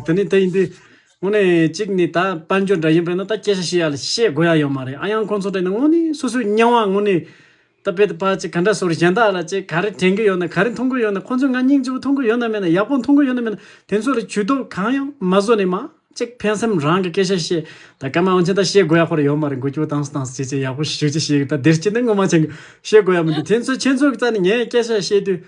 དེ་ནི་དེ་ཡིན་དུས། དངོས་ནས་གཅིག་ནི་ད་དཔལ་འབྱོར་འདྲ་ཡིན་པས་ན་ད་སྐད་ཆ་བཤད་ཡག་ལ་བཤད་དགོས་ཡག་ཡོད་མ་རེད་ཨ་ཡང་ཁོང་ཚོ་དྲན་ནས་དངོས་ནས་སོ་སོའི་སྙན་དབང་དངོས་ནས་ད་བེད་ཕ་ཅིག་ག་འདྲ་ཟུར་གཞན་དག་ལ་ཅིག་ག་རེ་དྲན་གི་ཡོད་ན་ག་རེ་མཐོང་གི་ཡོད་ན་ཁོང་ཚོས་ང་སྙིང་རྗེ་བོ་མཐོང་གི་ཡོད་ན་མེད་ན་ཡག་པོ་མཐོང་གི་ཡོད་ན་མེད་ན་དེ་ཚོ་ལ་བྱུས་གཏོགས་གང་ཡང་མ་བཟོ་ནས་མ་ཅིག་ཕན་སེམས་རང་གི་སྐད་ཆ་བཤད་ད་སྐར་མ་འོན་ཆེན་ད་བཤད་དགོས་ཡག་པོ་རེད་ཡོད་མ་རེད་འགུལ་སྐྱོད་བཏང་སོ་བཏང་སོ་བྱས་བྱས་ཡག་པོ་ཞུ་བྱས་ཞུས་ད་འདིར་སྐྱེས་ནི་ངོ་མ་བྱེད་དགོས་བཤད་དགོས་ཡག་མི་འདུག་དེ་ཚོ་ཁྱེད་ཚོ་གི་རྩ་ནས་ངས་སྐད་ཆ་བཤད་དུས།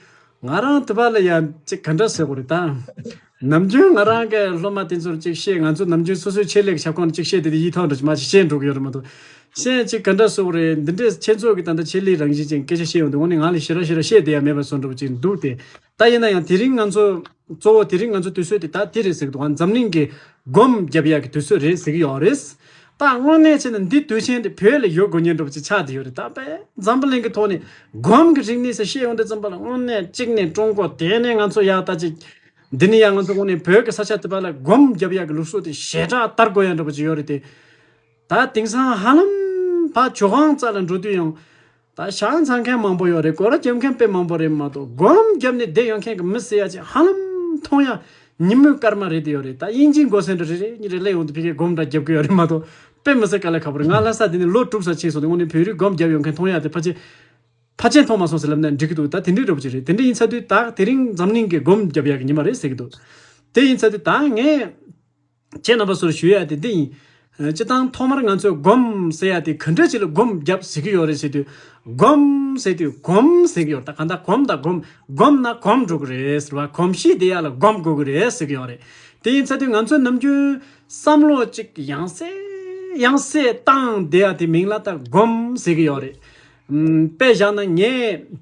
ང་རང་ཐུབ་པ་ལ་ཡང་ཅིག་ག་འདྲ་ཟེར་དགོས་རེད་ད། ནམ་རྒྱུན་ང་རང་གི་སློབ་མ་དེ་ཚོར་ཅིག་བཤད་ང་ཚོ་ནམ་རྒྱུན་སོ་སོའི་ཆེད་ལས་ཀྱི་ཁྱབ་ཁོངས་ལ་ཅིག་བཤད་དེ་དེ་ཡིད་ཐང་འགྲོ་གི་མ་ཞིག་བཤད་འགྲོ་གི་ཡོད་རེད་མ་གཏོགས། གཞན་ཅིག་ག་འདྲ་བཟོ་དགོས་རེད་འདི་འདྲས་ཁྱེད་ཚོ་གིས་ད་ལྟ་ཆེད་ལས་རང་བཞིན་ཅན་སྐད་ཆ་བཤད་ཡོང་དུས་འོ་ནི་ངག་ལས་ཤེས་ར་ཤེས་ར་བཤད་དེ་ཡང་མེད་པ་བཟོ་འགྲོ་བ་ཅིག་འདུག་སྟེ། ད་ཡིན་ན་ཡང་དེ་རིང་ང་ཚོ། གཙོ་བོ་དེ་རིང་ང་ཚོ་དུས་ཚོད་དེ་ད་དེ་རེད་ཟེར་གི་འདུག་འཛམ་གླིང་གི་སྒོམ་རྒྱབ་ཡག་གི་དུས་ཚོད་རེད་ཟེར་གི་ཡོད་རེད། ད་དངོས་གནས་བྱས་ན་འདི་དུས་ཆེན་འདི་བོད་ལ་ཡོད་དགོས་ཉེན་འགྲོ་བ་ཅིག་ཆགས་བསྡད་ཡོད་རེད་ད་དཔེ་འཛམ་བུ་གླིང་གི་ཐོག་ནས་སྒོམ་གྱི་རིག་གནས་སུ་ཤེས་ཡོང་དུས་བརྩམས་པ་ལ་དངོས་གནས་གཅིག་ནས་ཀྲུང་གོ་དེ་ནས་ང་ཚོ་ཡག་ལྟ་ཅིག་འདི་ནས་ཡང་ང་ཚོ་དངོས་གནས་བོད་ཀྱི་ས་ཆ་དེ་པ་ལ་སྒོམ་རྒྱབ་ཡག་གི་ལུགས་སྲོལ་དེ་ཞེ་དྲག་ལྟར་དགོས་ཡག་འགྲོ་བ་ཅིག་ཡོད་རེད་དེ། ད་དེང་སང་ཧ་ལམ་ཕ་ཇོ་ཁང་རྩ་ལ་འགྲོ་དུས་ཡང། ད་ཞག་འཚང་མཁན་མང་པོ་ཡོད་རེད་གོ་ར་རྒྱབ་མཁན་དཔེ་མང་པོ་རེད་མ་གཏོགས་སྒོམ་རྒྱབ་ནས་བསྡད་ཡོད་མཁན་གྱི་མི་བསད་ཡ་ཅིག་ཧ་ལམ་མཐོང་ཡ་ཉིན་མོའི་སྐར་མ་རེད་དེ་ཡོད་རེད་ད་དབྱིན་ཇིའི་མགོ་སེར་འདྲ་རེ་རེ་གཉིས་རེ་གླེགས་ཡོང་དུ་ཕི་ཁའི་སྒོམ་འདྲ་རྒྱབ་གི་ཡོད་རེད་མ་གཏོགས་དཔེ་མི་བསད་ག་ལེ་ཁ་པོ་རེད་ང་ལྷ་ས་དེ་ནས་ལོ་དྲུག་ས་ཕྱིན་སོང་དེ་སྔོན་ནས་བོད་རིགས་སྒོམ་རྒྱབ་ཡོད་མཁན་མཐོང་ཡ་དེ་ཕ་ཆེ་ཕ་ཆེན་མཐོང་མ་སོང་ཟེར་ལབ་ནས་འདྲི་གི་འདུག་ད་དེ་འདྲའི་རེ་བོ་ཅིག་རེད་དེ་འདྲ་ཡིན་ཚ་དུས་ད་དེ་རིང་འཛམ་གླིང་གི་སྒོམ་རྒྱབ་ཡག་གི་ཉི་མ་རེད་ཟེར་གི་འདུག་དེ་ཡིན་ཚ་དུས་ད་ངས། ཁྱེད་རྣམ་པ་ཚོར་ཞུ་ཡག་དེ་འདི་ཡིན། སྤྱི་བཏང་ཐོག་མར་ང་ཚོས་སྒོམས་ཟེར་ཡག་དེ་ག་འདྲ་ཅིག་ལ་སྒོམས་བརྒྱབས་ཟེར་གྱི་ཡོད་རེད་ཟེར་དུས། སྒོམས་ཟེར་དུས་གོམས་ཟེར་གྱི་ཡོད་རེད་ད་ག་འདྲ་གོམས་དང་སྒོམས་སྒོམས་ན་གོམས་འགྲོ་གི་རེད་ཟེར་བ་གོམས་གཤིས་དེ་ཡག་ལ་སྒོམས་དགོས་ཀྱི་རེད་ཟེར་གྱི་ཡོད་རེད། དེ་ཡིན་ཚ་དུས་ང་ཚོས་ནམ་རྒྱུན། བསམ་བློ་གཅིག་ཡང་གསལ་ཡང་གསལ་བཏང་བསྡད་ཡག་དེ་མིང་ལ་ད་སྒོམས་ཟེར་གྱི་ཡོད་རེད། དཔེ་བཞག་ན་ངས།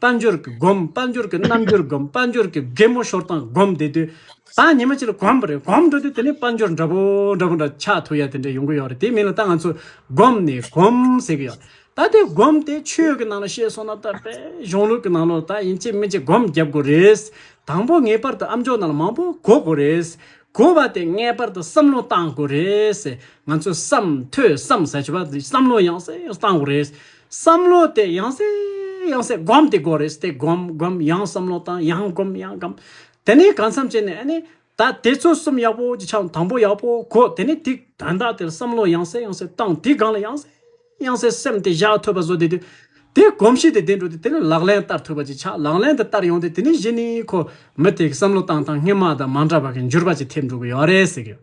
དཔལ་འབྱོར་གྱི་སྒོམ་དཔལ་འབྱོར་གྱི་རྣམ་འགྱུར་སྒོམ་དཔལ་འབྱོར་གྱི་རྒན་མོ་ཤོར་སྟངས་སྒོམ་དེ་དུས་བཟང་ཉི་མ་གཅིག་ལ་གོམས་པ་རེད་གོམས་འགྲོ་དུས་དེ་ནས་དཔལ་འབྱོར་འདྲ་པོ་འདྲ་པོ་འདྲ་ཆགས་ཐུག་ཡ་དེ་འདྲ་ཡོང་གི་ཡོད་རེད་དེ་མིན་ལ་ད་ང་ཚོས་སྒོམ་ནས་གོམ་ཟེར་གི་ཡོད། ད་དེ་སྒོམ་དེ་ཆོས་ཀྱི་ནང་ལ་བཤད་སོང་ན་ད་དཔལ་གཞུང་ལུགས་ཀྱི་ནང་ལོགས་ད་ཡིན་གཅིག་མིན་གཅིག་སྒོམ་བརྒྱབ་དགོས་རེད། དང་པོ་ངེས་པར་དུ་ཨམ་ཅོག་ནང་ལ་མང་པོ་གོ་དགོས་རེད། གོ་བ་དེ་ངེས་པར་དུ་བསམ་བློ་བཏང་དགོས་རེད། ང་ཚོས་བསམ་ཐོས་བསམ་ཟེར་བྱས་པ་དེ་བསམ་བློ་ཡང་སེ་ཡང་བཏང་དགོས་རེད། བསམ་བློ་དེ་ཡང་སེ་ཡང་སེ་སྒོམ་དེ་དགོས་རེད་དེ་སྒོམ་སྒོམ་ཡང་བསམ་བློ་བཏང་ཡང་སྒོམ་ཡང་སྒམ། དེ་ནས་གང་འཚམས་བྱས་ནས་ཨ་ནི། ད་དེ་ཚོ་གསུམ་ཡག་པོ་ཅིག་ཆགས་དང་པོ་ཡག་པོ་གོ་དེ་ནས་དེ་དོན་དག་དེར་བསམ་བློ་ཡང་སེ་ཡང་སེ་བཏང་དེའི་སྒང་ལ་ཡང་སེ་ཡང་སེ་སེམས་དེ་བཞག་ཐོས་པ་བཟོ་དེ་དུས། དེ་གོམས་གཤིས་དེ་ལྡན་འགྲོ་དུས་དེ་ནས་ལག་ལེན་བསྟར་ཐུབ་པ་ཅིག་ཆགས་ལག་ལེན་དེ་བསྟར་ཡོང་དུས་དེ་ནས་གཞི་ནི་ཁོ་མི་དེ་གི་བསམ་བློ་བཏང་སྟངས་སྔས་མ་དང་མ་འདྲ་བ་གི་འགྱུར་བ་ཅིག་ཐེབས་འགྲོ་གི་ཡོད་རེད་ཟེར་གི་ཡོད།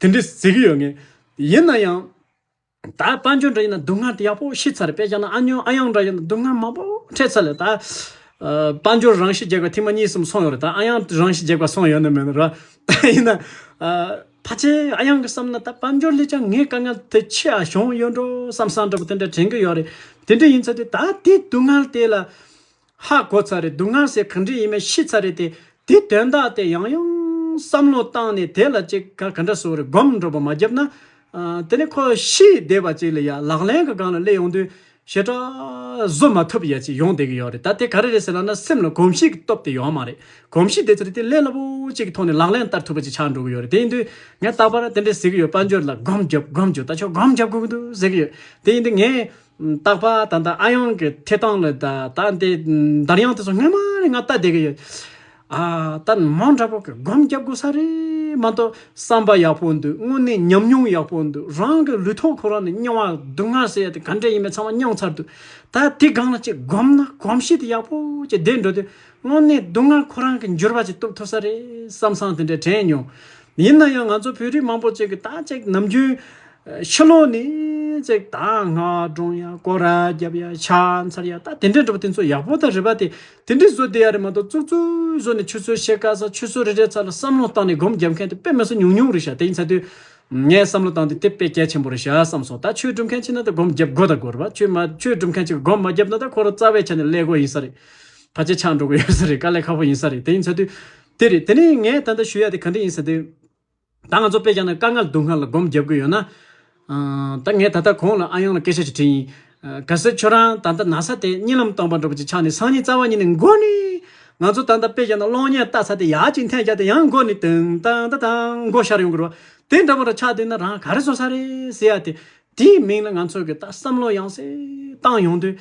དེ་འདྲས་ཟེར་གྱི་ཡོད་ངེས། ཡིན་ན་ཡང། ད་དཔལ་འབྱོར་འདྲ་ཡིན་ན་སྡུག་བསྔལ་དེ་ཡག་པོ་ཤི་ཚར་རེད་དཔེ་ཆ་ན་ཨ་ཉོན་ཨ་གཡང་འདྲ་ཡིན་ན་སྡུག་བསྔལ་མང་པོ་འཕྲད་ཚར་ལེ། ད། དཔལ་འབྱོར་རང་ཤི་རྒྱག་པའི་ཐེངས་མ་གཉིས་གསུམ་སོང་ཡོད་རེད་ད་ཨ་གཡང་རང་ཤི་རྒྱག་པ་སོང་ཡོད་ནི་མེད་ནི་རེད། ཡིན་ན། ཕ་ཆེ་ཨ་གཡང་གིས་བསམ་ན་ད་དཔལ་འབྱོར་ལས་ཀྱང་ངའི་དཀའ་ངལ་དེ་ཆེ་ཨ་བྱུང་ཡོད་འགྲོ་བསམ་བསམ་འདྲ་པོ་དེ་འདྲས་དྲན་གྱི་ཡོད་རེད། དེ་འདྲས་ཡིན་ཚོད་དེ་ད་དེའི་སྡུག་བསྔལ་དེ་ལ། ཧ་གོ་ཚར་རེད་འདུག་སྔར་ཟས་གང་དྲིས་ཡིན་མེད་ཤེས་ཚར་རེད་དེ། དེའི་དོན་དག་དེ་ཡང་ཡང་བསམ་བློ་བཏང་ནས་དེ་ལ་ཅི་ག་ག་འདྲ་བཟོ་རེད་སྒོམ་སྒྲོག་པ་མ་བརྒྱབ་ན། དེ་ནས་ཁོ་ཤི་བསྡད་པ་ཅིག་ལ་ཡ་ལག་ལེན་གི་སྒང་ལ་སླེབས་ཡོང་དུས་ཞེ་དྲག་བཟོ་མ་ཐུབ་ཡ་ཅིག་ཡོང་བསྡད་ཀྱི་ཡོད་རེད་ད་དེ་ག་རེ་རེད་ཟེར་ལབ་ན་སེམས་ལ་གོམས་གཤིས་ཀྱི་སྟོབས་དེ་ཡོད་མ་རེད་གོམས་གཤིས་དེ་ཚོ་རེ་དེ་ལས་སླ་པོ་ཅིག་གི་ཐོག་ནས་ལག་ལེན་བསྟར་ཐུབ་པ་ཅིག་ཆགས་འགྲོ་གི་ཡོད་རེད་དེ་ཡིན་དུས་ངས་རྟག་པར་དེ་འདྲའི་ཟེར་གྱི་ཡོད་དཔལ་འབྱོར་ལ་སྒོམ་རྒྱོབ་སྒོམ་རྒྱོབ་ད་ཆོག་སྒོམ་རྒྱབ་དགོས་ཀྱི་འདུག་ཟེར་གྱི་ཡོད་དེ་ཡིན་དུས་ངས། རྟག་པར་ད་ལྟ་ཨ་ཡང་གི་ཐད་སྟངས་ལ་ད་ལྟ་འདི་འདར་དབྱངས་དེ་ཚོ་སྔོན་མ་ནས་ང་ལྟ་བསྡད་ཀྱི་ཡོད། ཨ་ད་མོ་འདྲ་པོ་གི་སྒོམ་རྒྱབ་དགོས་ས་རེད་མ་གཏོགས་བསམ་པ་ཡག་པོ་འདུག་དངོས་གནས་ཉམས་མྱོང་ཡག་པོ་འདུག་རང་གི་ལུས་ཐོག་ཁོ་རང་ནས་མྱོང་བ་སྡུག་བསྔལ་ཟས་དེ་ག་འདྲ་ཡིན་མིན་ཚང་མ་མྱོང་ཚར་འདུག་ད་དེ་སྒང་ལ་གཅིག་སྒོམ་ན་གོམས་གཤིས་དེ་ཡག་པོ་གཅིག་བསྡད་འགྲོ་དུས་དངོས་གནས་སྡུག་བསྔལ་ཁོ་རང་གི་འགྱུར་བ་གཅིག་གཏུབ་ཐུབ་ས་རེད་བསམ་བསམ་དེ་འདྲའི་དྲན་མྱོང་ཡིན་ན་ཡང་ང་ཚོ་བོད་རིགས་མང་པོ་གཅིག་གིས་ད་ཅིག་ནམ་རྒྱུན། ཕྱི་ལོག་ནས་ཅིག་ད་ངག་སྒྲོང་ཡ་སྐོར་ར་རྒྱབ་ཡ་ཕྱག་མཚར་ཡ་ད་དེ་འདྲས་འགྲོ་བ་དེ་ཚོ་ཡག་པོ་དང་རེད་པ་དེ་དེ་འདྲས་བཟོ་བསྡད་ཡ་རེད་མ་གཏོགས་ཙུག་ཙུག་བཟོ་ནས་ཆུ་ཚོད་བཤད་དཀའ་ས་ཆུ་ཚོད་རེ་རེའི་ཚ་ལ་བསམ་བློ་བཏང་ནས་སྒོམ་རྒྱབ་མཁན་དེ་དཔེ་མི་སོ་ཉུང་ཉུང་རེད་ཤག་དེ་ཡིན་ཚ་དུས། ངས་བསམ་བློ་བཏང་དེ་དེ་དཔེ་གལ་ཆེན་པོ་རེད་ཤག་བསམ་སོང་ད་ཆོས་སྒྲུབ་མཁན་གཅིག་ན་ད་སྒོམ་རྒྱབ་དགོས་དང་དགོས་རེད་པ་ཆོས་མ་ཆོས་སྒྲུབ་མཁན་གཅིག་སྒོམ་མ་རྒྱབ་ན་ད་ཁོ་རང་རྩ་བའི་ཆ་ནས་ཀླད་ཀོར་ཡིན་ས་རེད། ཕ་ཆེ་ཆག་འགྲོ་གི་ཡོད་ས་རེད་དཀའ་ལས་ཁ་པོ་ཡིན་ས་རེད་དེ་ཡིན་ཚ་དུས། དེ་རེད་དེ་ནས་ངས་ད་ལྟ་ཞུ་ཡག་དེ་ག་འདྲ་ཡིན་ཟེར་དུས། ད་ང་ཚོ་དཔེ་ཆ་ན་དཀའ་ངལ་སྡུག་བསྔལ་ལ་སྒོམ་བརྒྱབ་དགོས་ཡོད་ན། ད་ངས་ད་ལྟ་ཁོང་ལ་ཨ་ཡོང་ལ་སྐད་ཆ་ཞིག་དྲིས་ཡིན། གལ་སྲིད་ཁྱོད་རང་ད་ལྟ་ན་ས་དེ་གཉིད་ལམ་སྟོང་པར་འགྲོ་བ་ཅིག་ཆགས་ནས་སང་ཉིན་རྩ་བ་ཉིད་ནས་མགོ་ནས། ང་ཚོ་ད་ལྟ་དཔེ་ཆ་ན་གློག་བརྙན་ལྟ་ས་དེ་ཡག་ཅིག་འཐེན་རྒྱག་དེ་ཡང་མགོ་ནས་དུང་ཏང་ཏང་ཏང་མགོ་ཤར་ཡོང་དགོས་རོགས། དེ་འདྲ་བོ་རང་ཆགས་འདུག་ན་རང་ག་རེ་བཟོ་ས་རེད་ཟེར་ཡག་དེ། དེའི་མིང་ལ་ང་ཚོ་གི་ད་བསམ་བློ་ཡང་སེ་བཏང་ཡོང་དུས།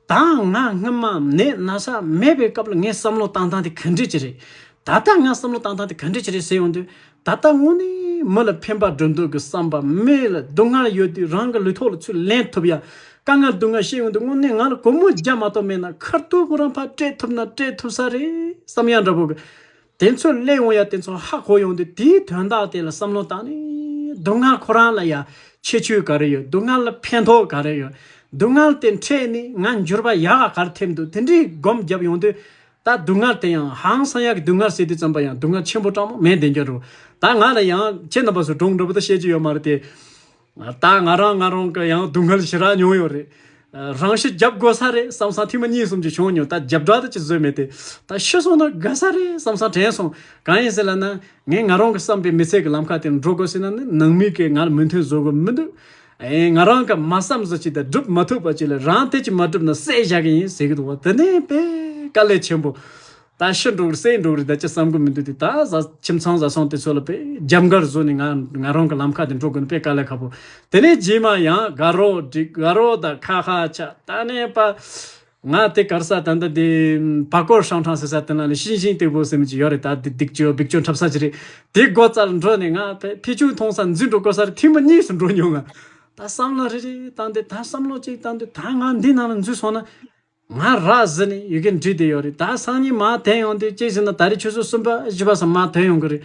ད་ང་སྔོན་མ་ནད་ན་ཆ་མེད་པའི་སྐབས་ལ་ངས་བསམ་བློ་བཏང་སྟངས་དེ་ག་འདྲས་ཀྱི་རེད། ད་ལྟ་ང་བསམ་བློ་བཏང་སྟངས་དེ་ག་འདྲས་ཀྱི་རེད་ཟེར་ཡོང་དུས། ད་ལྟ་དངོས་གནས་མི་ལ་ཕན་པ་སྒྲོ་འདོགས་ཀྱི་བསམ་པ་མི་ལ་སྡུག་བསྔལ་ཡོད་དུས་རང་གི་ལུས་ཐོག་ལ་ཚུར་ལེན་ཐུབ་ཡང། དཀའ་ངལ་སྡུག་བསྔལ་ཤེས་ཡོང་དུས་དངོས་གནས་ང་ལ་སྒོར་མོ་བརྒྱ་མ་གཏོགས་མེད་ན་ཁར་ཐུག་གོ་རང་ཕར་སྤྲད་ཐུབ་ན་སྤྲད་ཐུབ་ས་རེད་བསམ་ཡ་འདྲ་བོ་གི། དེ་ཚོས་གླེང་འོང་ཡ་དེ་ཚོ་ཧ་གོ་ཡོང་དུས་དེའི་དོན་དག་དེ་ལ་བསམ་བློ་བཏང་ནས། སྡུག་བསྔལ་ཁོ་རང་ལ་ཡ་ཁྱད་ཆོས་ག་རེ་ཡོད་སྡུག་བསྔལ་ལ་ཕན་ཐོགས་ག་རེ་ཡོད། སྡུག་བསྔལ་དེ་འཕྲད་ནས་ང་འགྱུར་བ་ཡག་ག་གར་ཐེབས་འདུག་དེ་འདྲའི་སྒོམ་བརྒྱབ་ཡོང་དུས། ད་སྡུག་བསྔལ་དེ་ཡང་ཧང་སང་ཡག་གི་སྡུག་བསྔལ་ཟེར་དུས་བརྩམས་པ་ཡང་སྡུག་བསྔལ་ཆེན་པོ་གྲངས་མང་མེད་བདེན་རྒྱ་རུ། ད་ང་ལ་ཡང་ཁྱེད་རྣམ་པ་ཚོས་སྒྲུང་འདྲ་པོ་དག་བཤད་ཀྱི་ཡོད་མ་རེད་དེ། ད་ང་རང་ང་རང་གི་ཡང་སྡུག་བསྔལ་ཞི་རགས་མྱོང་ཡོད་རེད། རང་ཤི་རྒྱབ་དགོས་ས་རེད་བསམ་སང་ཐེངས་མ་གཉིས་གསུམ་གྱི་བྱུང་མྱོང་ད་རྒྱབ་དྲག་ཏུ་ཅི་བཟོས་མེད་དེ། ད་ཤི་སོང་ན་དགའ་ས་རེད་བསམ་སང་དྲན་སོང། གང་ཡིན་ཟེར་ལབ་ན། ངས་ང་རང་གི་བསམ་པའི་མི་ཚེ་གི་ལམ་ཁ་དེར་འགྲོ་དགོས་ཟེར་ན་ནི་ནང་མི་གིས་ང་ལ་མོས་མཐུན་བཟོ་གི་མི་འདུག་ཨེ། ང་རང་གིས་མ་བསམ་བཟོ་བྱས་ཏེ་བསྒྲུབ་མ་ཐུབ་པ་ཅིག་ལ་རང་ཐད་ཀྱིས་མ་བསྒྲུབ་ན་བསད་བཞག་གི་ཡིན་ཟེར་གི་འདུག་བ་དེ་ནི་དཔེ་དཀའ་ལས་ཆེན་པོ། ད་ཕྱི་འགྲོ་རུ་སེ་འགྲོ་རུ་ད་ཅི་བསམ་དགོས་མི་འདུག་དེ་ད་བཟའ་ཁྱིམ་ཚང་བཟའ་ཚང་དེ་ཚོ་ལ་པེ་རྒྱབ་མགར་བཟོ་ནས་ང་ང་རང་གི་ལམ་ཁ་དེ་འགྲོ་དགོས་ན་པེ་དཀའ་ལས་ཁ་པོ་དེ་ནས་རྗེས་མ་ཡང་དགའ་རོགས་འགྲིག་དགའ་རོགས་དང་ཁ་ཁ་ཆ་ད་ནས་པ། ང་དེ་གར་ས་ད་ད་དེ་བ་སྐོར་ཤང་ཁྲང་ཟེར་ས་དེ་ན་ལས་ཤིང་ཤིང་སྟེགས་བུ་ཟེར་མི་ཅིག་ཡོད་རེད་ད་དེ་སྡིག་སྤྱོད་སྦིག་སྤྱོད་འཁྲབ་ས་ཅིག་རེད་དེ་སྒོ་རྩར་འགྲོ་ནས་ང་པེ་ཕི་ཆུང་མཐོང་ས་འཛིན་འགྲོ་དགོས་ས་རེད་ཐེངས་པ་གཉིས་སུ་འགྲོ་མྱོང་ང་ད་བསམ་བློ་རེ་རེ་བཏང་དེ་ད་བསམ་བློ་གཅིག་བཏང་དུས་ད་ང་འདི་ནང་ལ་འཛུལ་སོང་ན། ང་རག་བཟི་ནས་ཡི་གེ་འབྲི་དེ་ཡོད་རེད་ད་སང་ཉིན་མ་ཐོན་ཡོང་དུས་ཅི་ཞིག་ན་ད་རེས་ཆུ་ཚོད་གསུམ་པ་བཞི་པ་སང་མ་ཐོན་ཡོང་གི་རེད།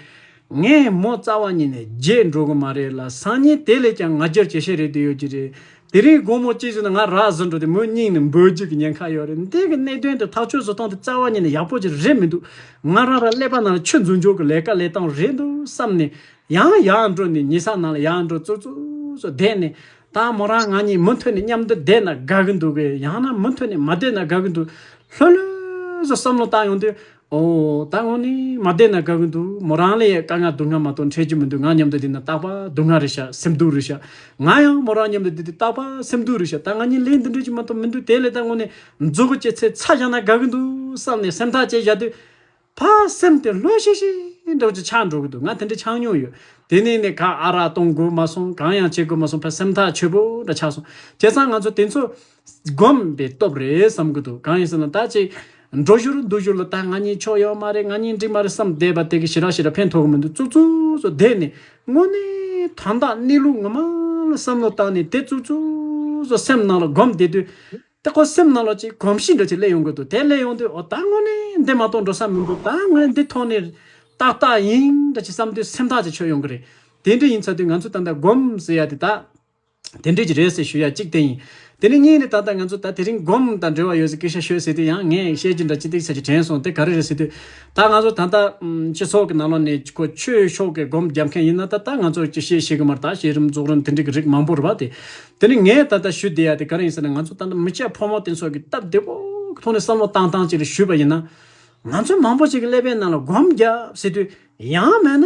ངས་མོ་རྩ་བ་ཉིད་ནས་བརྗེད་འགྲོ་གི་མ་རེད་ལ་སང་ཉིན་དེ་ལས་ཀྱང་ང་རྒྱལ་ཇེ་ཆེར་རེད་དུ་ཡོད་ཀྱི་རེད། དེ་རིང་དགོང་མོ་ཅི་ཞིག་ན་ང་རག་བཟི་འགྲོ་དུས་མོའི་སྙིང་ནས་འབོད་རྒྱུ་གི་ཉེན་ཁ་ཡོད་རེད་འདི་གི་གནད་དོན་དེ་ཐག་ཆོད་བཟོ་སྟངས་དེ་རྩ་བ་ཉིད་ནས་ཡག་པོ་ཅིག་རེད་མི་འདུག་ང་རང་རག་ཀླད་པ་ནང་ལ་ཆུ་འཛུལ་འཇོག་གི་ལས་ཀ་ལས་སྟངས་རེད་འདུག་བསམ་ནས་ཡང་ཡར་འགྲོ་ནས་ཉི་ས་ནང་ལ་ཡར་འགྲོ་ཙུར་ཙུར་བསྡད་ནས་དང་མོ་རང་ང་གཉིས་མུ་མཐུད་ནས་མཉམ་དུ་བསྡད་ན་དགའ་གི་འདུག་གས་ཡང་ན་མུ་མཐུད་ནས་མ་བསྡད་ན་དགའ་གི་འདུག་ལྷོད་ལྷོད་སུ་བསམ་བློ་བཏང་ཡོང་དུས། འོ། ད་ངོ་ནས་མ་བསྡད་ན་དགའ་གི་འདུག་མོ་རང་ལས་དཀའ་ང་སྡུག་བསྔལ་མ་གཏོགས་འཕྲད་རྒྱུ་མི་འདུག་ང་མཉམ་དུ་བསྡད་ན་སྟག་པ་སྡུག་བསྔལ་རེད་ཤག་སེམས་སྡུག་རེད་ཤག་ང་ཡང་མོ་རང་མཉམ་དུ་བསྡད་དུས་སྟག་པ་སེམས་སྡུག་རེད་ཤག་ད་ང་གཉིས་ལས་འདི་འཕྲད་རྒྱུ་མ་གཏོགས་མི་འདུག་དེ་ལས་ད་ངོ་ནས་འཛུགས་གོ་བྱེད་ཚེ་ཚ་བཞག་ན་དགའ་གི་འདུག་བསམ་ནས་སེམས་ཐག་བཅད་བཞག་དུས། ཕ་སེམས་དེ་ལྷོད་ཤིག་ཤིག་འགྲོ་ཅི་ཆགས་འགྲོ་གི་འདུག་ང་དེ་འདྲ་ཆགས་མྱོང་ཡོད། དེ་ནས་ནས་ག་ཨ་རག་གཏོང་དགོས་མ་སོང་གང་ཡང་བྱེད་དགོས་མ་སོང་ཕ་སེམས་ཐག་ཆོད་པོ་འདྲ་ཆགས་སོང། བྱས་ཙང་ང་ཚོ་དེ་ཚོ་སྒོམ་པའི་སྟོབས་རེད་བསམ་གི་འདུག་གང་ཡིན་ཟེར་ན་ད་ཅིག་འགྲོ་བཞུར་འདུག་བཞུར་ལ་ད་ང་གཉིས་ཕྱོགས་ཡོད་མ་རེད་ང་གཉིས་འགྲིག་མ་རེད་བསམ་བསྡད་པ་དེ་གི་ཞི་རག་ཞི་རག་ཕན་ཐོག་གི་མི་འདུག་ཙུག་ཙུག་ཙུག་བསྡད་ནས་དངོས་གནས་དོན་དག་གནས་ལུགས་ངོ་མ་ལ་བསམ་བློ་བཏང་ནས་དེ་ཙུག་ཙུག་ཙུག་སེམས་ནང་ལ་སྒོམ་བསྡད་དུས། དེ་ཁོ་སེམས་ནང་ལོག་ཅིག་གོམས་ཤིག་འགྲོ་ཅིག་སླེབས་ཡོང་གི་འདུག་དེ་སླེབས་ཡོང་དུས་ཨོ་ད་དངོས་གནས་འདི་མ་གཏོགས་འགྲོ་ས་མི་འདུག་ད་ངས་འདི་ཐོག་ནས། ཏག་ཏག་ཡིན་འདྲ་ཅིག་བསམ་དུས་སེམས་ཐག་ཅིག་ཆོད་ཡོང་གི་རེད། དེ་འདྲ་ཡིན་ཚ་དུས་ང་ཚོས་ད་ལྟ་སྒོམ་ཟེར་ཡ་དེ་ད། དེ་འདྲས་ཀྱི་རེད་ཟེར་ཞུ་ཡ་གཅིག་དེ་ཡིན། དེ་ནས་གཉིས་ནས་ད་ལྟ་ང་ཚོ་ད་དེ་རིང་སྒོམ་དང་འབྲེལ་བ་ཡོད་ཟེར་སྐད་ཤ་ཤོད་ཟེར་དུས་ཡང་ངས་བཤད་རྒྱུ་འདྲ་ཅི་ཏིག་ཟེར་གྱི་དྲན་སོང་དེ་ག་རེ་རེད་ཟེར་དུས། ད་ང་ཚོ་ད་ལྟ། སྤྱི་ཚོགས་ཀྱི་ནང་ལོག་ནས་ཁོ་ཆོས་ཕྱོགས་ཀྱི་སྒོམ་རྒྱབ་མཁན་ཡིན་ན་ད་ད་ང་ཚོར་ཅི་བཤད་ཤེས་གི་མ་རེད་ད་བཤད་རིམ་རྫོགས་རིམ་དེ་འདྲས་ཀྱི་རིགས་མང་པོ་རེད་བ་དེ། དེ་ནི་ངས་ད་ལྟ་ཞུ་བདེ་ཡ་དེ་ག་རེ་ཡིན་ཟེར་ན་ང་ཚོ་ད་ལྟ་མི་སྤྱད་ཕོ་མོ་སྟེ་ཚོགས་ཀྱི་སྟབས་བདེ་བོ་མཐོང་ནས་བསམ་བློ་བཏང་བཏང་ཅིག་ལ་ཞུས་པ་ཡིན་ན། ང་ཚོའི་མང་བོ་ཞིག་གི་ཀླད་པའི་ནང་ལ་སྒོམ་རྒྱབ་ཟེར་དུས་ཡང་མེད་ན།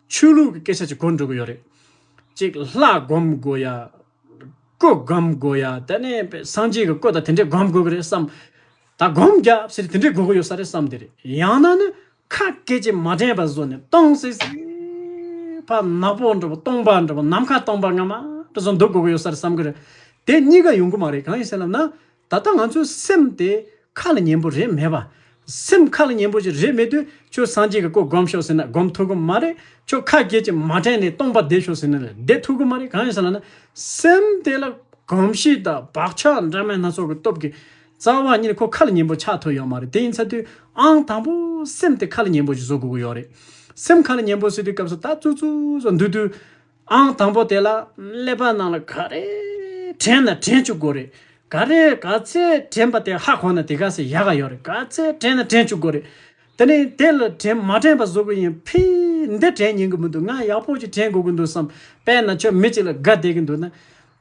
ཆོས་ལུགས་ཀྱི་སྐད་ཆ་ཅིག་གོ་འགྲོ་གི་ཡོད་རེད། གཅིག་ལྷ་སྒོམ་དགོས་ཡ། སྐུ་སྒོམ་དགོས་ཡ་དེ་ནས་སངས་རྒྱས་ཀྱི་སྐུ་དང་དེ་འདྲས་སྒོམ་དགོས་གི་རེད་བསམ། ད་སྒོམ་རྒྱབ་ཟེར་དུས་དེ་འདྲས་དགོས་གི་ཡོད་ས་རེད་བསམ་དེ་རེད་ཡང་ན་ནི། ཁ་སྐད་ཅིག་མ་དྲན་པར་བཟོ་ནས་སྟོང་སེ་སེ་བ། ནག་པོ་འགྲོ་བ་སྟོང་པ་འགྲོ་བ་ནམ་མཁའ་སྟོང་པ་སྔ་མ་དེ་ཚོ་འདུག་དགོས་ཀྱི་ཡོད་ས་རེད་བསམ་གྱི་རེད། དེ་གཉིས་ཀ་ཡོང་གི་མ་རེད་གང་ཡིན་ཟེར་ལབ་ན། ད་ལྟ་ང་ཚོའི་སེམས་དེ་ཁ་ལ་ཉན་པོ་རེད་མེད་པ། སེམས་ཁ་ལ་ཉན་པོ་ཞིག་རེད་མེད་དུས་ཁྱོད་སངས་རྒྱས་ཀྱི་སྐུ་སྒོམ་ཤོག་ཟེར་ན་སྒོམ་ཐུབ་གི་མ་རེད། ཁྱོད་ཁ་སྐད་ཅིག་མ་དྲན་ནས་སྟོང་པ་བསྡད་ཤོག་ཟེར་ན་ལས་བསྡད་ཐུབ་གི་མ་རེད་གང་ཡིན་ཟེར་ལབ་ན། སེམས་དེ་ལ་གོམས་གཤིས་དང་བག་ཆགས་འདྲ་མིན་སྣ་ཚོགས་ཀྱི་སྟོབས་ཀྱིས་རྩ་བ་ཉིད་ཁོ་ཁ་ལ་ཉན་པོ་ཆགས་ཐུབ་ཡོད་མ་རེད་དེ་ཡིན་ཚ་དུས་ཨང་དང་པོ་སེམས་དེ་ཁ་ལ་ཉན་པོ་ཞིག་བཟོ་དགོས་ཀྱི་ཡོད་རེད། སེམས་ཁ་ལ་ཉན་པོ་བཟོས་དུས་སྐབས་སུ་ད་ཙུག་ཙུག་བཟོ་འདུག་དུས་ཨང་དང་པོ་དེ་ལ་ཀླད་པ་ནང་ལ་ག་རེ་དྲན་ན་དྲན་བཅུག་དགོས་རེད། ག་རེ་ག་ཚད་དྲན་པ་དེ་ཧ་གོ་ན་དེ་ག་ཚད་ཡག་ག་ཡོད་རེད་ག་ཚད་དྲན་ན་དྲན་བཅུག་དགོས་རེད། དེ་ནས་དེ་ལ་དྲན་མ་དྲན་པ་བཟོ་དགོས་ཡིན་ཕིས་འདི་དྲན་ཉན་གྱི་མི་འདུག་ང་ཡག་པོ་ཅིག་དྲན་དགོས་ཀྱི་འདུག་བསམ་པས་ན་ཁྱོད་མི་གཅིག་ལ་དགའ་བསྡད་ཀྱི་འདུག་ན་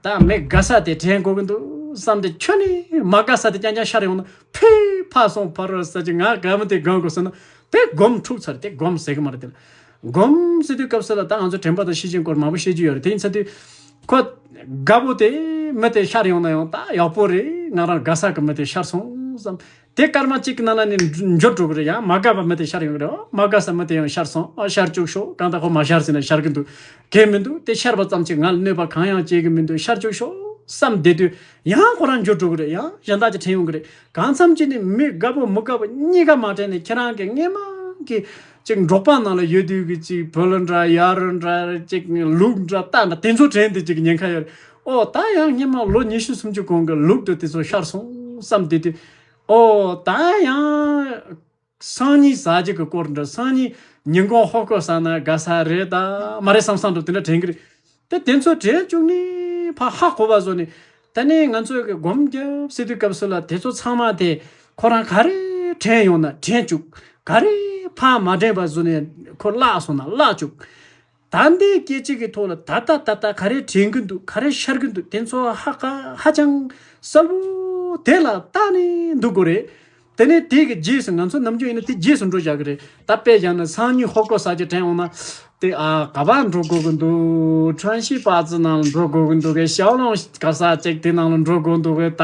ད་མི་དགའ་ས་དེ་དྲན་དགོས་ཀྱི་འདུག་བསམ་སྟེ་ཁྱོད་ནི་མ་དགའ་ས་དེ་རྐྱང་རྐྱང་ཤར་ཡོང་ན་ཕུས་ཕར་སོང་ཕར་རོལ་ཟེར་གྱི་ང་དགའ་མོ་དེ་དགོས་མཁོ་ཟེར་ན་དེ་སྒོམ་འཁྲུག་ཚར་དེ་སྒོམ་ཟེར་གྱི་མ་རེད་དེ་ལ་སྒོམ་ཟེར་དུས་སྐབས་སུ་ལ་ད་ང་ཚོ་དྲན་པ་དང་ཤེས་བྱའི་སྐོར་མང་པོ་བཤད་རྒྱུ་ཡོད་རེད་དེ་ཡིན་ཚར་དུས། ཁོ་དགའ་པོ་དེ་མི་དེ་ཤར་ཡོང་ན་ཡང་ད་ཡག་པོ་རེད་ང་རང་དགའ་ས་གི་མི་དེ་ཤར་སོང་བསམ་དེ་སྐར་མ་གཅིག་གི་ནང་ན་ནི་འབྱོར་འགྲོ་གི་རེད་ཡང་མ་དགའ་བ་མི་དེ་ཤར་ཡོང་གི་རེད་འོ་མ་དགའ་ས་མི་དེ་ཡང་ཤར་སོང་ཨ་ཤར་བཅུག་ཤོག་གང་ལྟར་ཁོ་མ་ཤར་ཟིན་ན་ཤར་གི་འདུག་གལ་མི་འདུག་དེ་ཤར་བ་ཙམ་གྱིས་ང་ལ་གནོད་པ་གང་ཡང་བྱེད་གི་མི་འདུག་ཤར་བཅུག་ཤོག་བསམ་བསྡད་དུས་ཡང་ཁོ་རང་འབྱོར་འགྲོ་གི་རེད་ཡང་གཞན་དག་ཀྱི་དྲན་ཡོང་གི་རེད་གང་འཚམ་གྱིས་ནི་མི་དགའ་བོ་མི་དགའ་བོ་གཉིས་ཀ་མ་དྲན་ནས་ཁྱེད་རང་གི་དངོས་མང་གི་ཅིག་འབྲོག་པ་ནང་ལ་ཡོད་དུས་ཀྱི་ཅིག་བོད་ལོ་འདྲ་ཡར་ལོ་འདྲ་ཅིག་ལུག་འདྲ་རྟ་འདྲ་དེ་ཚོ་དྲན་དུས་ཀྱི་ཉེན་ཁ་ཡོད་རེད་ཨོ་ད་ཡང་སྙེ་མ་ལོ་ཉི་ཤུ་སུམ་ཅུ་གོང་གི་ལུགས་དུ་དེ་ཚོ་ཤར་སོང་བསམ་དེ་དུས། ཨོ་ད་ཡང། སང་ཉིན་ཟ་རྒྱུ་གི་སྐོར་འདྲ་སང་ཉིན་ཉིན་གུང་ཧོ་ཀོ་ཟ་ན་དགའ་ས་རེད་ད་མ་རེད་བསམ་བསམ་དུ་དེ་འདྲ་དྲན་གི་རེད་དེ་དེ་ཚོ་དྲན་བཅུག་ནས་ཕ་ཧ་གོ་བ་བཟོ་ནས་ད་ནི་ང་ཚོས་སྒོམ་རྒྱབ་སེ་དུས་སྐབས་སུ་ལ་དེ་ཚོ་ཚང་མ་དེ་ཁོ་རང་ག་རེ་དྲན་ཡོང་ན་དྲན་བཅུག་ག་རེ་ཕ་མ་དྲན་པ་བཟོ་ནས་ཁོ་བརླག་སོང་ན་བརླག་བཅུག། ད་ལྟའི་སྐད་ཆ་གི་ཐོག་ལ་ད་ལྟ་ད་ལྟ་ག་རེ་དྲན་གི་འདུག་ག་རེ་ཤར་གི་འདུག་དེ་ཚོ་ཧ་ག་ཧ་ཅང་གསལ་བོ་དེ་ལ་ལྟ་ནས་འདུག་དགོས་རེད། དེ་ནས་དེ་གི་རྗེས་སུ་ང་ཚོ་ནམ་རྒྱུན་ཡིན་ན་དེ་རྗེས་སུ་འགྲོ་བཞག་གི་རེད་ད་དཔེ་བཞག་ན་སང་ཉིན་ཧོ་ཀོ་ས་ཆ་དྲན་འོང་ན་དེ་ཨ་ག་པ་འགྲོ་དགོས་གི་འདུག་ཁྲོན་ཤིས་པ་ཙི་ནང་ལ་འགྲོ་དགོས་གི་འདུག་གས་ཤའོ་ལོང་ག་ས་ཅེག་དེ་ནང་ལ་འགྲོ་དགོས་འདུག་གས་ད་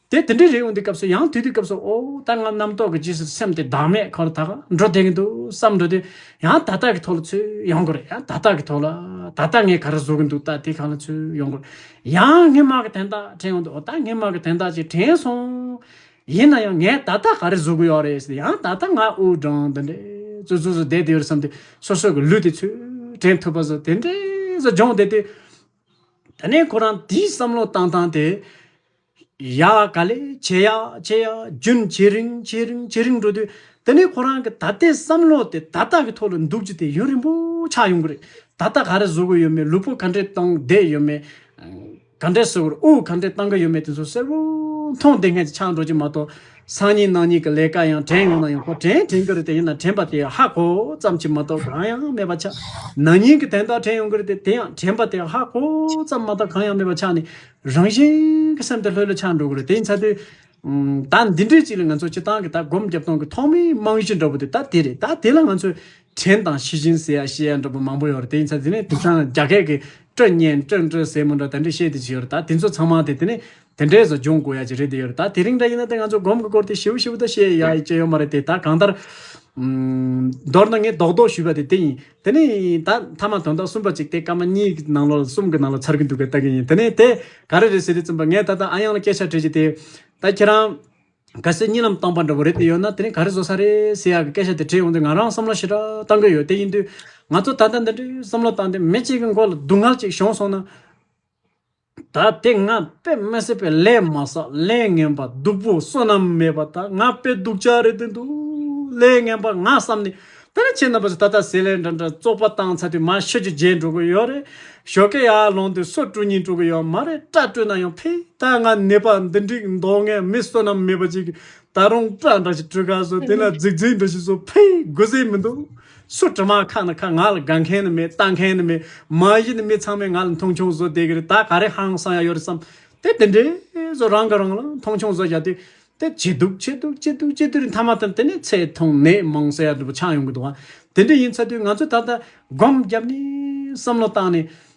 དེ་དེ་འདྲའི་རེ་འོང་དུས་སྐབས་སུ་ཡང་དུས་དུས་སྐབས་སུ་འོ་ད་ང་རྣམ་རྟོག་གི་རྗེས་སུ་སེམས་དེ་བདག་མེད་ཁར་དག་འགྲོ་དེངས་འདུག་བསམ་འགྲོ་དུས་ཡང་ད་ལྟ་གི་ཐོག་ལ་ཚུད་ཡོང་དགོས་རེད་ཡང་ད་ལྟ་གི་ཐོག་ལ་ད་ལྟ་ངས་ག་རེ་བཟོ་གི་འདུག་ད་དེ་གང་ལ་ཚུད་ཡོང་དགོས་རེད་ཡང་སྔན་མ་གི་དན་རྟགས་དྲན་འོང་དུས་འོ་ད་སྔན་མ་གི་དན་རྟགས་ཅིག་དྲན་སོང། ཡིན་ན་ཡང་ངས་ད་ལྟ་ག་རེ་བཟོ་གི་ཡོད་རེད་ཟེར་ཏེ་ཡང་ད་ལྟ་ང་དབུགས་སྦྲང་འདི་འདྲའི་བཙོད་ཚུགས་སུ་བསྡད་དེ་ཡོད་རེད་བསམ་དུས་སོ་སོ་གི་ལུས་དེ་ཚུད་དྲན་ཐུབ་པ་བཟོ་དེ་འདྲས་བཟོ་སྦྱོང་བསྡད་དུས། ད་ནས་ཁོ་རང་དེའི་བསམ་བློ་བཏང་སྟངས་དེ། ཡ། ག་ལེ་བྱེད་ཡ། བྱེད་ཡ། རྒྱུན་ཇེ་རིང་ཇེ་རིང་ཇེ་རིང་འགྲོ་དུས། དེ་ནས་ཁོ་རང་གི་ད་ལྟའི་བསམ་བློ་དེ་ད་ལྟ་གི་ཐོག་ལ་འདུག་རྒྱུ་དེ་ཡུན་རིང་པོ་ཆགས་ཡོང་གི་རེད། ད་ལྟ་ག་རེ་བཟོ་གི་ཡོད་མེད་ལུས་པོ་ག་འདྲས་གཏོང་བསྡད་ཡོད་མེད། ག་འདྲས་བཟོ་གི་རེད་དབུགས་ག་འདྲས་བཏང་གི་ཡོད་མེད་དེ་ཚོ་གསལ་བོ་མཐོང་བསྡད་མཁན་ཞིག་ཆགས་འགྲོ་རྒྱུ་མ་གཏོགས། སང་ཉིན་གནངས་ཉིན་གྱི་ལས་ཀ་ཡང་དྲན་ཡོང་ན་ཡང་ཁོ་དྲན་དྲན་གྱི་རེད་དེ་ཡིན་ན་དྲན་པ་དེ་ཧ་གོ་ཙམ་གྱིས་མ་གཏོགས་གང་ཡང་མེད་པ་ཆགས། ན་ཉིན་གྱི་དན་རྟགས་དྲན་ཡོང་གི་རེད་དེ་དེ་ཡང་དྲན་པ་དེ་ཧ་གོ་ཙམ་མ་གཏོགས་གང་ཡང་མེད་པ་ཆགས་ནས་རང་བཞིན་གྱི་སེམས་དེ་ལྷོད་ལ་ཆགས་འགྲོ་གི་རེད་དེ་ཡིན་ཚ་དུས། ད་འདི་འདྲའི་ཅིག་ལ་ང་ཚོ་སྤྱི་བཏང་གི་ད་སྒོམ་རྒྱབ་སྟོང་གི་ཐོག་མའི་རྨང་གཞི་འདྲ་བོ་དེ་ད་དེ་རེད་ད་དེ་ལ་ང་ཚོས་དྲན་དང་ཞི་ཞིང་ཟེར་ཡ་ཤེས་ཡ་འདྲ་བོ་མང་པོ་ཡོད་རེད་དེ་ཡིན་ཚ་དེ་ནས་དེང་སང་རྒྱ་སྐད་ཀྱི་སྤྲོད་བརྙན་སྤྲོད་འགྲོས་ཟེར་མོ་འདྲ་དེ་འདྲས་བཤད་དེ་བྱས་ཡོད་རེད་ད་དེ་ཚོ་ཚང་མ་དེ་དེ་ནས་དེ་འདྲས་སུ་སྦྱོང་དགོས་ཡ་ཅིག་རེད་དེ་ཡོད་རེད་ད་དེ་རིང་འདྲ་ཡིན་ན་དེ་ང་ཚོ་སྒོམ་གི་སྐོར་དེ་ཞི་བོ་ཞི་བོ་ད་བཤད་ཡ་ཡི་ཅི་ཡོད་མ་རེད་དེ་ད་གང་ལྟར། མདོར་ན་ངས་རྡོག་རྡོག་ཞུས་པ་དེ་དེ་ཡིན་དེ་ནི་ད་མཐའ་མ་དོན་དག་གསུམ་པ་གཅིག་སྟེ་སྐར་མ་གཉིས་ཀྱི་ནང་ལོགས་ལ་གསུམ་གྱི་ནང་ལོགས་ཚར་གྱི་འདུག་པའི་རྟགས་ཀྱི་ཡིན་དེ་ནི་དེ་ག་རེ་རེད་ཟེར་དུས་བཙུན་པ་ངས་ད་ལྟ་ཨ་དབྱངས་ལ་སྐད་ཆ་དྲིས་རྗེས་དེ་ད་ཁྱེད་རང་ག་སེ་གཉིས་ལམ་བཏང་པ་འདྲ་བོ་རེད་དེ་ཡོད་ན་དེ་ནི་ག་རེ་བཟོ་ས་རེད་ཟེར་ཡག་གི་སྐད་ཆ་དེ་དྲིས་ཡོང་དུས་ང་རང་བསམ་བློ་ཞེ་དྲག་བཏང་གི་ཡོད་དེ་ཡིན་དུས་ང་ཚོ་ད་ལྟ་འདི་འདྲའི་བསམ་བློ་བཏང་སྟེ་མི་གཅིག་གི་མགོ་ལ་སྡུག་བསྔལ་ཅིག་བྱུང་སོང་ན། ད་དེ་ང་དཔེ་མི་སྲིད་པའི་ལས་མ་བསགས་ལས་ངན་པ་སྡུག་པོ་བསོད་ནམས་མེད་པ་དག་ང་དཔེ་སྡུག་ཅག་རེད་དེ་འདུག་ལས་ངན་པ་ང་བསམ་ནས་དེ་འདྲ་བྱེད་ན་བུ་ཚ་ད་ལྟ་ཟས་ལས་འདྲ་འདྲ་བཙོག་པ་བཏང་ཚར་དུས་མ་ཤི་རྒྱུ་བརྗེད་འགྲོ་གི་ཡོད་རེད་ཞོ་ཀེ་ཡག་ལོངས་དུས་སོ་དཀྲུག་གཉིས་དཀྲུག་གི་ཡོད་མ་རེད་སྐྲ་བཀྲུས་ན་ཡང་ཕིག་ད་ང་ནད་པ་འདི་འགྲིག་མདོག་ངན་མི་བསོད་ནམས་མེད་པ་ཅིག་གིས་ད་རུང་སྐྲ་འདྲ་ཞིག་བཀྲུས་ཁ་བཟོས་དེ་ལ་རྫིག་རྫིག་འདྲ་ཞིག་བཟོས་ཕིག་དགོས་ཟེར་མི་འདུག། སུ་དྲི་མ་ཁ་ནི་ཁ་ང་ལ་དགའ་མཁན་ནི་མེད་ལྟ་མཁན་ནི་མེད་མ་གཞི་ནི་མི་ཚང་མས་ང་ལ་མཐོང་ཆུང་བཟོ་བསྡད་ཀྱི་རེད་ད་ག་རེ་ཧང་སང་ཡག་ཡོད་རེད་བསམ་དེ་དེ་འདྲས་བཟོ་རང་གི་རང་ལ་མཐོང་ཆུང་བཟོ་བཞག་དེ་དེ་བྱས་འདུག་བྱས་འདུག་བྱས་འདུག་བྱས་དུས་མཐའ་མ་དང་དེ་ནས་ཚེ་ཐུང་ནད་མང་ཟེར་ཡག་འདྲ་པོ་ཆགས་ཡོང་གི་འདུག་བ་དེ་འདྲས་ཡིན་ཚ་དུས་ང་ཚོས་ད་ལྟ་སྒོམ་བརྒྱབ་ནས་བསམ་བློ་བཏང་ནས་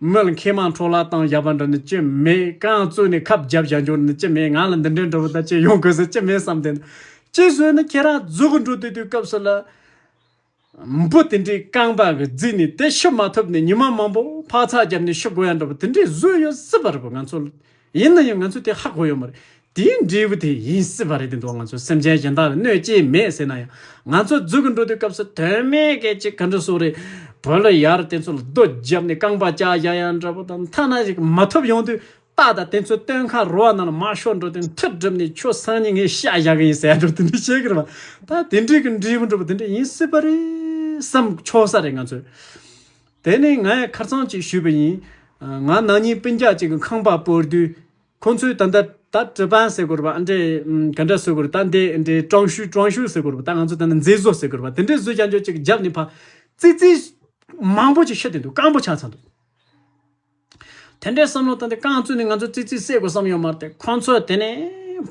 མོད་མཁས་མང་འཕྲོ་བརླག་བཏང་བཞག་པ་འདྲ་ནི་ཅི་མེད་གང་ཡང་རྩོད་ནས་ཁབ་བརྒྱབ་བཞག་འགྱུར་ནི་ཅི་མེད་ང་ལ་འདི་འདྲའི་འདྲ་བོ་དག་ཅིག་ཡོང་དགོས་ས་ཅི་མེད་བསམ་དེ་འདྲ་ཅིག་བཟོས་ནས་ཁྱེད་རང་རྫུ་གུ་འགྲོ་དུས་དུས་སྐབས་སུ་ལ་འབུ་དེ་འདྲའི་རྐང་པ་གི་རྫི་ནས་དེ་ཤི་མ་ཐུབ་ནས་ཉི་མ་མང་པོ་འཕག་འཚག་བརྒྱབ་ནས་ཤི་དགོས་ཡ་འདྲ་བོ་དེ་འདྲས་བཟོས་ཡོད་སྲིད་པ་རེད་པ་ང་ཚོ་ཡིན་ན་ཡང་ང་ཚོས་དེ་ཧ་གོ་ཡོད་མ་རེད། དེའི་འབྲས་བུ་དེ་ཡིན་སྲིད་པ་རེད་དེ་འགྲོ་བ་ང་ཚོ་སེམས་ཅན་གཞན་དག་ལ་གནོད་ཅི་མེད་ཟེར་ན་ཡང། ང་ཚོ་རྫུས་གི་འགྲོ་དུས་སྐབས་སུ་དོན་མེད་སྐད་ཅིག་ག་འདྲ་བཟོ་རེད། བོད་ལ་ཡར་དེ་ཚོ་ལ་རྡོ་བརྒྱབ་ནས་རྐང་པ་བཅག་བཞག་ཡ་འདྲ་པོ་དང་མཐའ་ན་ཞིག་མ་ཐོབ་ཡོང་དུས་ཏག་ཏག་དེ་ཚོའི་སྟོན་ཁ་རུ་བ་རྣམས་ལ་མ་ཤོར་འགྲོ་དུས་མཐུ་བསྒྲུབས་ནས་ཁྱོད་སང་ཉིན་ངས་བཤད་བཞག་གི་ཡིན་ཟེར་ཡ་འདྲ་པོ་དེ་འདྲ་བཤད་གི་རེད་བ། ད་དེ་འདྲས་ཀྱི་འབྲས་བུ་འགྲོ་བ་དེ་འདྲ་ཡིན་སྲིད་པ་རེད་བསམ་ཆོག་ས་རེད་ང་ཚོས། དེ་ནས་ངས་ཁར་ཚང་ཅིག་ཞུས་པ་ཡིན། ང་ནང་ཉིན་སྤུན་རྒྱག་ཅིག་གི་ཁང་པར་སྤོས་དུས། ཁོ་ཚོས་ད་ལྟ་ད་ཀྲི་པཱན་ཟེར་དགོས་ར་པ་ཨ་འདྲས། ག་འདྲ་བཟོས་དགོས་ར་ད་འདས་ཨ་འདྲས་ཀྲང་ཤུས་ཀྲང་ཤུས་ཟེར་དགོས་ར་པ་ད་ང་ཚོས་ད་ནི་མཛེས་བཟོ་ཟེར་དགོས་ར་པ་དེ་འདྲས་བཟོས་ཀྱང་ཆོག་ཅིག་རྒྱབ་ནས་ཕ། ཙི་ཙི། མང་པོ་ཅིག་ཤི་བསྡད་འདུག་སྐམ་པོ་ཆགས་ཚར་འདུག། དེ་འདྲའི་བསམ་བློ་བཏང་སྟེ་རྐང་བཙུགས་ནས་ང་ཚོ་ཙི་ཙིས་བསད་དགོས་བསམ་ཡོད་མ་རེད་ཁོང་ཚོས་དེ་ནས་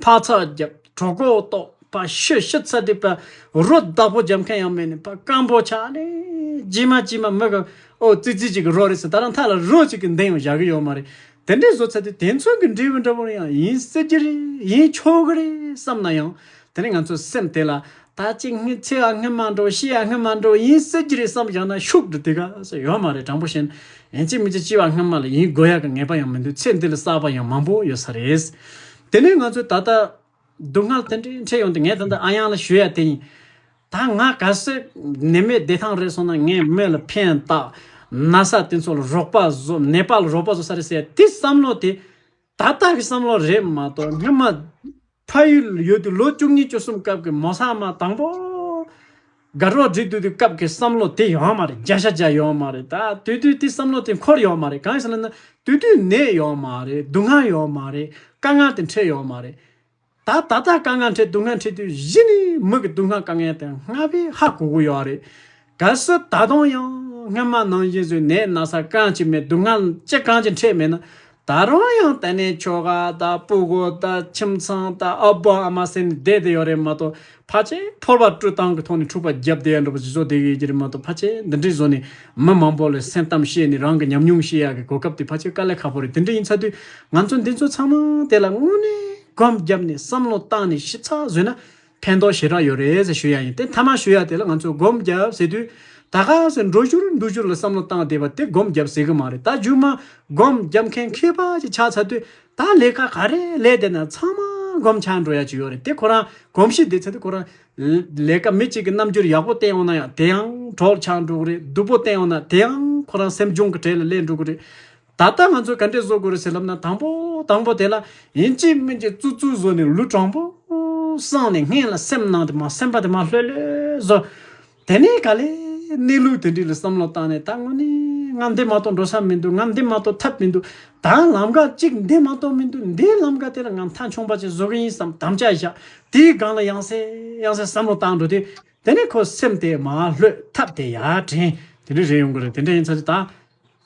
འཕག་འཚག་རྒྱབ་གྲོགས་གོ་རྟོགས་པ་ཤི་ཤི་ཚ་དེ་ཕ་རོ་བདག་པོ་རྒྱབ་མཁན་ཡང་མེད་ནས་ཕ་སྐམ་པོ་ཆགས་ནས་ཅི་མ་ཅི་མ་མི་ག་འོ་ཙི་ཙི་གཅིག་གི་རོ་རེད་ཟེར་ད་རང་འཐག་ལ་རོ་གཅིག་གི་འདེང་ཡང་བཞག་གི་ཡོད་མ་རེད་དེ་འདྲའི་བཟོ་ཚ་དེ་དེ་མཚུངས་ཀྱི་འབྲས་བུ་འདྲ་པོ་རེ་ཡང་ཡིན་སྲིད་ཀྱི་རེད་ཡིན་ཆོག་གི་རེད་བསམ་ན་ཡང་དེ་ནི་ང་ཚོའི་སེམས་དེ་ལ་ད་ཅི་སྔི་ཚེ་ཡ་སྔི་མ་འགྲོ་ཤི་ཡ་སྔི་མ་འགྲོ་ཡིན་ཟེར་གྱི་རེད་བསམ་བཞག་ན་ཤུགས་འགྲོ་དེ་ག་ས་ཡོད་མ་རེད་དྲང་པོ་བཤད་ན་ཡན་ཆད་མི་ཚེ་ལྕི་བ་སྔི་མ་ལ་ཡིན་དགོས་ཡ་གི་ངེས་པ་ཡང་མི་འདུག་ཚེ་འདི་ལ་བསགས་པ་ཡང་མང་པོ་ཡོད་ས་རེད། དེ་ནས་ང་ཚོས་ད་ལྟ་སྡུག་བསྔལ་དེ་འདྲའི་འཕྲད་ཡོང་དུས་ངས་ད་ལྟ་ཨ་གཡང་ལ་ཞུ་ཡ་དེ་ཡིན། ད་ང་ག་སེར་ནད་མེད་བདེ་ཐང་རེད་སོང་ན་ངས་མི་ལ་ཕན་བཏགས་ན་ས་དེ་ཚོ་ལ་རོགས་པ་བཟོ་ནད་པ་ལ་རོགས་པ་བཟོ་ས་རེད་ཟེར་ཡ་དེ་བསམ་བློ་དེ་ད་ལྟ་གི་བསམ་བློ་རེད་མ་གཏོགས་སྔོན་མ། ཕ་ཡུལ་ཡོད་དུས་ལོ་བཅུ་གཉིས་བཅུ་གསུམ་སྐབས་ཀྱི་མོ་བཟའ་མ་དང་པོ། དགའ་རོགས་བསྒྲིགས་འདུག་དུས་སྐབས་ཀྱི་བསམ་བློ་དེ་ཡོད་མ་རེད་བརྒྱ་ཆ་བརྒྱ་ཡོད་མ་རེད་ད་དུས་དུས་དེ་བསམ་བློ་དེ་འཁོར་ཡོད་མ་རེད་གང་ཞིག་ལ་ན་དུས་དུས་ནད་ཡོད་མ་རེད་སྡུག་བསྔལ་ཡོད་མ་རེད་དཀའ་ངལ་དེ་འཕྲད་ཡོད་མ་རེད། ད་ད་ལྟ་དཀའ་ངལ་འཕྲད་སྡུག་བསྔལ་འཕྲད་དུས་གཞི་ནས་མི་གི་སྡུག་བསྔལ་དཀའ་ངལ་དེ་སྔར་བས་ཧ་གོ་གི་ཡོད་རེད། གལ་སྲིད་ད་དུང་ཡང་སྔོན་མ་ནང་བཞིན་བཟོས་ནས་ན་ཚ་གང་ཅི་མེད་སྡུག་བསྔལ་ཅི་གང་ཅི་འཕྲད་མེད་ན། ད་རུང་ཡང་དེ་ནས་ཁྱོ་ག་དང་སྤུ་གུ་དང་ཁྱིམ་ཚང་དང་ཨ་ཕ་ཨ་མ་ཟེར་ནས་བསྡད་དེ་ཡོད་རེད་མ་གཏོགས། ཕ་ཆེ་ཕོར་བ་སྤྲོད་སྟངས་ཀྱི་ཐོག་ནས་འཁྲུག་པ་བརྒྱབ་བསྡད་ཡག་འགྲོ་པ་ཇི་བཟོ་བསྡད་ཡོད་ཀྱི་རེད་མ་གཏོགས་ཕ་ཆེ་འདི་འདྲའི་བཟོ་ནས་མི་མང་པོ་ལ་སེམས་གཏམ་བཤད་ནས་རང་གི་ཉམས་མྱོང་བཤད་ཡག་གི་གོ་སྐབས་དེ་ཕ་ཆེ་དཀའ་ལས་ཁག་པོ་རེད་དེ་འདྲ་ཡིན་ཚ་དུས་ང་ཚོ་འདི་ཚོ་ཚང་མ་དེ་ལ་དངོས་གནས་གོམ་བརྒྱབ་ནས་བསམ་བློ་བཏང་ནས་ཞིབ་ཚགས་བཟོས་ན་ཕན་ཐོག་ཞེ་དྲག་ཡོད་རེད་ཟེར་ཞུ་ཡག་ཡིན་དེ་མཐའ་མ་ཞུ་ཡག་དེ་ལ་ང་ཚོས་གོམ་བརྒྱབ་ཟེར་དུས་ད་ག་ཟེར་འགྲོ་ཞུར་འདུག་ཞུར་ལ་བསམ་བློ་བཏང་བསྡད་པ་དེ་གོམ་བརྒྱབ་ཟེར་གི་མ་རེད་ད་རྒྱུན་མ་གོམ་བརྒྱབ་མཁན་མཁས་པ་ཅིག་ཆགས་ཚ་དུས་ད་ལས་ཀ་ག་རེ་ལས་དེ་ན་ཚང་མ་སྒོམ་ཆགས་འགྲོ་ཡ་ཅིག་ཡོད་རེད་དེ་ཁོ་རང་གོམས་གཤིས་དེ་ཚོད་དེ་ཁོ་རང། ལས་ཀ་མི་གཅིག་གི་རྣམ་འགྱུར་ཡག་པོ་བསྟན་འོང་ན་ཡང་དེའང་གྲོགས་ཆགས་འགྲོ་གི་རེད་སྡུག་པོ་བསྟན་འོང་ན་དེའང་ཁོ་རང་སེམས་གཅོང་གི་གྲལ་ལ་སླེབས་འགྲོ་གི་རེད། ད་ལྟ་ང་ཚོས་ག་འདྲས་བཟོ་དགོས་རེད་ཟེར་ལབ་ན་དང་པོ་དང་པོ་དེ་ལ་ཡིན་གཅིག་མིན་གཅིག་བཙུར་བཙུར་བཟོ་ནས་ལུས་དྲང་པོ་བསྲངས་ནས་སྔན་ལ་སེམས་ནང་དེ་མ་སེམས་པ་དེ་མ་ལྷོད་ལྷོད་བཟོ། དེ་ནས་ག་ལེ། གནས་ལུགས་དེ་འདྲི་ལ་བསམ་བློ་བཏང་ནས་ད་ངོ་ནས། ང་འདི་མ་གཏོགས་འགྲོ་ས་མི་འདུག་ང་འདི་མ་གཏོགས་ཐབས་མི་འདུག་ད་ལམ་ཁ་ཅིག་འདི་མ་གཏོགས་མི་འདུག་འདིའི་ལམ་ཁ་དེ་ལ་ང་མཐའ་འཁྱོངས་པ་ཅིག་བཟོ་གི་ཡིན་བསམ་དམ་བཅའ་བཞག་དེའི་སྒང་ལ་ཡང་སེ་ཡང་སེ་བསམ་བློ་བཏང་འགྲོ་དུས། དེ་ནས་ཁོ་སེམས་དེ་མ་ལྷོད་ཐབས་དེ་ཡར་དྲན་དེ་འདྲི་རེ་ཡོང་གི་རེད་དེ་འདྲ་ཡིན་ཚར་རྗེས་ད།